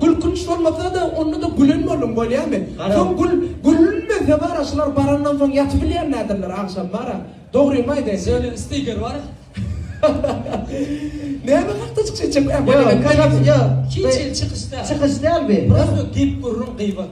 Gülkünç bolmasa-da, onda-da gülen boldum, bolýamy? Soň gül, gülünmese bar-a, şular barandan soň ýatybilýän däldirler, agşam bar-a. Dogrymy aýdaýyn. Söýlen stiker bar. Näme hakda çykyş etjek? Ýok, ýok, ýok. Hiç hili çykyş däl. Çykyş däl bu. Prosto gep-gürrüň, gybat.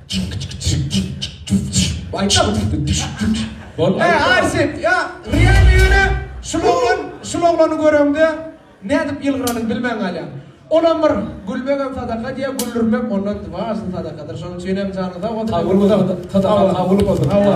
Eý Arsip, ýa, real ýöne şul oglan, şul oglany göreňde nädip ýylgyranyňy bilmän galýaň. Olam bir, gülmegem sadaka diýýär, güldürmek ondan dwaçta sadakadyr. Şonuň üçinem janyň sag bolsun. Kabul bolsun, Hudaýa kabul bolsun. Hawa.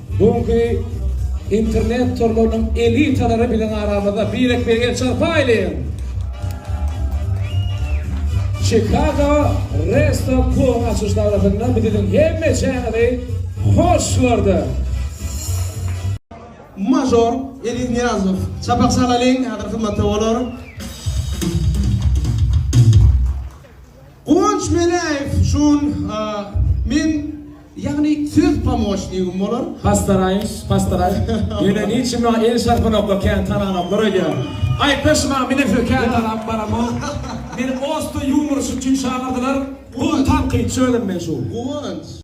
Bu günki internet torlarynyň elitalary biziň aramyzda birek-birege el çarpaýlyň! Chicago Resto klubyň açylyş dabarasynda biz siziň hemmeçäňizi hoş gördük! Mažor Eliz Nyýazow. Çapak çalalyň, häzir hyzmatda bolar. Guwanç Meläýew şun men ýagny söz pomoçnigim bolar. Pastaraýyş, pastaraýyş. Ýöne niçin maňa el çarpanoklar kän tananoklar öýdýän. Aýtdaş maňa men öýdýän kän tanap baramok. Meni osta ýumor üçin çagyrdylar. Uly tankytçy özüm men şu. Guwanç.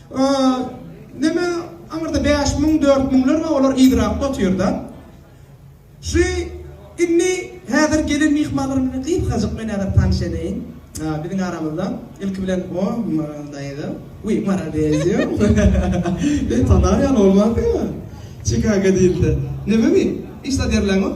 Neme aňyrda bäş müň dört müňler bar olar yzrakda otyrda. Şu indi häzir gelen myhmanlar bilen gysgajyk men häzir tanyş edeýin. Biziň aramyzda ilki bilen o Maral daýza. Wiý Maral beýdýä. Ýa tanarýan bolmansyňmy? Çikaga diýilse. Neme wiý? Iş zat ýerleňok?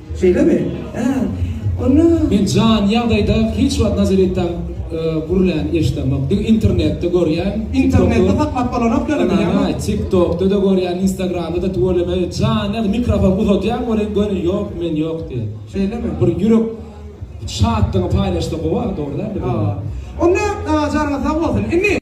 Şeýlemi? Hä, onda. Men jany ýagdaýda hiç wagt Nazaretdaky gürläni eşidemok. Diňe internetde görýän. Internetde saklap bolanok ýöne bilýäňmi? Aý, TikTokda-da görýän, Instagramda-da tüweleme jany ýagdaýda mikrofon uzadýaň welin göni ýok, men ýok diýýär. Şeýlemi? Bir ýürek şatlygyňy paýlaşsa gowy-a, dogry dälmi? Hawa. Onda janyňyz sag bolsun. Indi.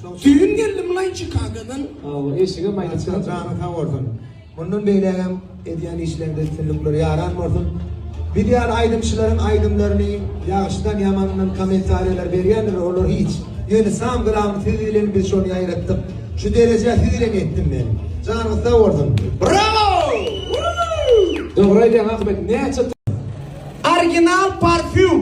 Düýn geldi mylaýyn Çikagodan. Sag bol, işiňem aýdyp dur. Janyň sag bolsun. Mundan beýlägem edýän işleriňde üstünlikler ýaran bolsun. Biz ýaly aýdymçylaryň aýdymlaryny ýagşydan ýamandan kommentariýalar berýändirler olar hiç. Ýöne sam glam siz bilen biz şony ýaýratdyk. Şu derejä siz bilen ýetdim men. Janyňyz sag bolsun. Brawo! Woo! Dogry aýdýaň Akybek näçe Orginal parfýum.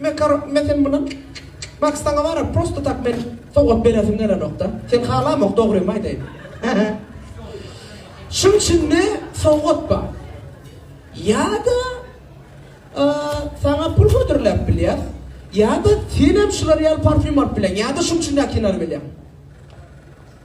Mekar me sen muny Max saňa wara prosto tak men sowgat beresim gelenokda. Sen halamok dogrymy aýdaýyn. Hehe. Şuň içinde sowgat bar. Ýa-da saňa pul hödürläp bilýär. Ýa-da senem şular ýaly parfýum alyp bilen. Ýa-da şuň üçin näkinany bilýän.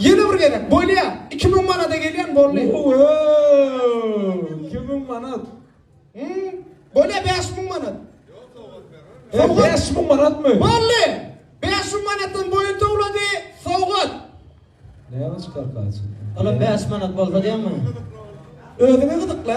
Ýene bir gezek bolýa iki müň manada gelýän boldy. Iki müň manat. Hmm, bolýa bäş müň manat. Sowgat. Bäş müň manatmy? Boldy. Bäş müň manatdan boýun towlady sowgat. Näme çykar kaçy? Ala bäş manat bolsa diýemmi? Özüňe gyzykla.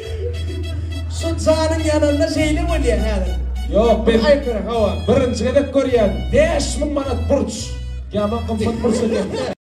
Şu janyň ýananda şeýle bolýa häzir. Ýok bir aýkyryn hawa. Birinji gezek görýän. Bäş müň manat burç. Ýaman gymmat burç eken.